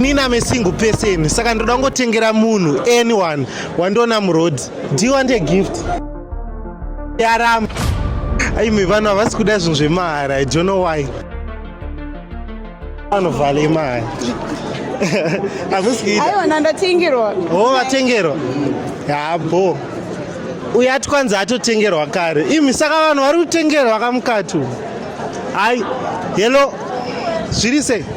nina me single person saka ndoda kungotengera munhu anyone wandiona muroad do you want a gift yaram aime vanhu havasi kuda zvinhu zvemahara i don't know why anovhale mari hakusiaiona ndatengerwa o oh, vatengerwa yabo uye ati kwanzi atotengerwa kare imi saka vanhu vari kutengerwa kamukati hai helo zviri sei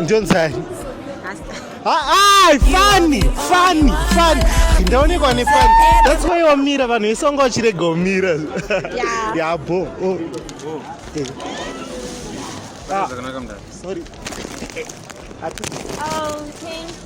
Ndionzai. Ah, funny, funny, funny. Ndaonekwa ne funny. That's why wamira vanhu vese vanga vachirega umira. Yeah. Yeah, bo. Oh. Oh. Eh. Ah. Sorry. Oh, thank you.